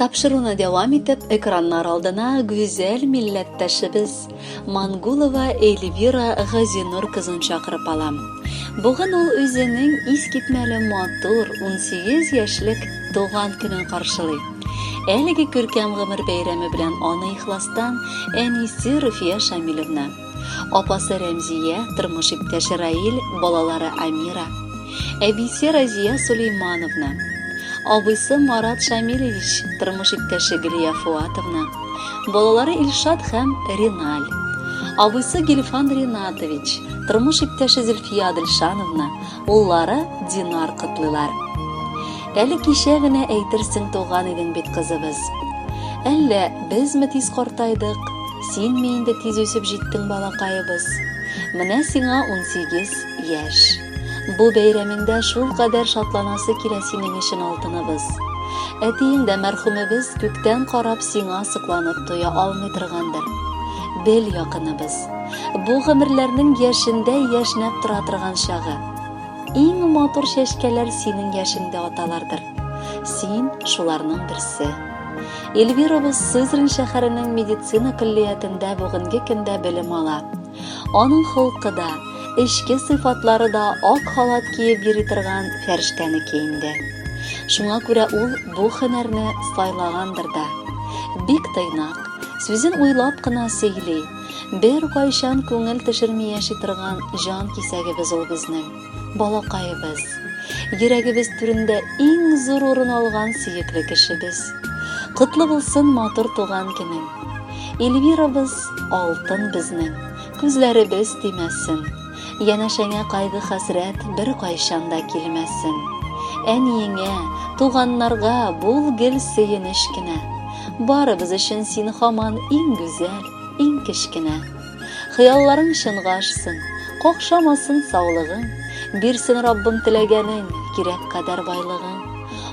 Тапшыруны дәвам итеп, экраннар алдына гүзәл милләттәшебез Мангулова Эльвира Газинур кызын чакырып алам. Бүген ул үзенең искитмәле матур 18 яшьлек туган көнен каршылый. Әлеге күркәм гомер бәйрәме белән аны ихластан әнисе Руфия Шамилевна Апасы Рәмзия, тормыш иптәше Раил, балалары Амира, әбисе Разия Сулеймановна, абыйсы Марат Шамилевич, тормыш иптәше Гөлия Фуатовна, балалары Илшат һәм Риналь, абыйсы Гильфан Ринатович, тормыш иптәше Зөлфия Адельшановна, Уллары Динар котлыйлар. Әле кичә генә әйтерсең туган идең бит кызыбыз. Әллә безме тиз картайдык, синме инде тиз үсеп җиттең балакаебыз? Менә сиңа 18 яшь. Бу бәйрәмеңдә шул кадәр шатланасы килә синең өчен алтыныбыз. Әтиең дә мәрхүмебез күктән карап сиңа сокланып туя алмый торгандыр. Бел, якыныбыз, Бу гомерләрнең яшендә яшьнәп тора торган чагы. Иң матур чәчкәләр синең яшеңдә аталардыр. Син шуларның берсе. Эльвирабыз Сызрань шәһәренең медицина көллиятендә бүгенге көндә белем ала. Аның холкы да, эчке сыйфатлары да ак халат киеп йөри торган фәрештәнеке инде. Шуңа күрә ул бу һөнәрне сайлагандыр да. Бик тыйнак, сүзен уйлап кына сөйли. Бер кайчан күңел төшерми яши торган җан кисәгебез ул безнең, балакаебыз. Йөрәгебез түрендә иң зур урын алган сөекле кешебез. Котлы булсын матур туган көнең. Эльвирабыз алтын безнең, күзләребез тимәсен. Янәшәңә кайгы-хәсрәт беркайчан да килмәсен. Әниеңә, туганнарга бул гел сөенеч кенә. Барыбыз өчен син һаман иң гүзәл, иң кечкенә. Хыялларың чынга ашсын, какшамасын саулыгың, бирсен Раббым теләгәнең, кирәк кадәр байлыгың.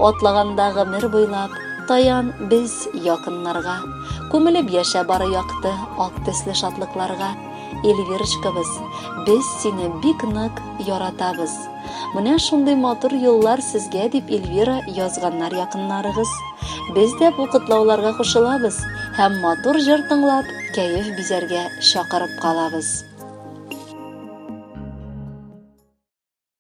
Атлаганда гомер буйлап, таян без якыннарга. Күмелеп яшә бары якты, ак төсле шатлыкларга. Эльвирочкабыз, без сине бик нык яратабыз. Менә шундый матур юллар сезгә дип Эльвира язганнар якыннарыгыз. Без дә бу котлауларга кушылабыз һәм матур җыр тыңлап, кәеф бизәргә чакырып калабыз.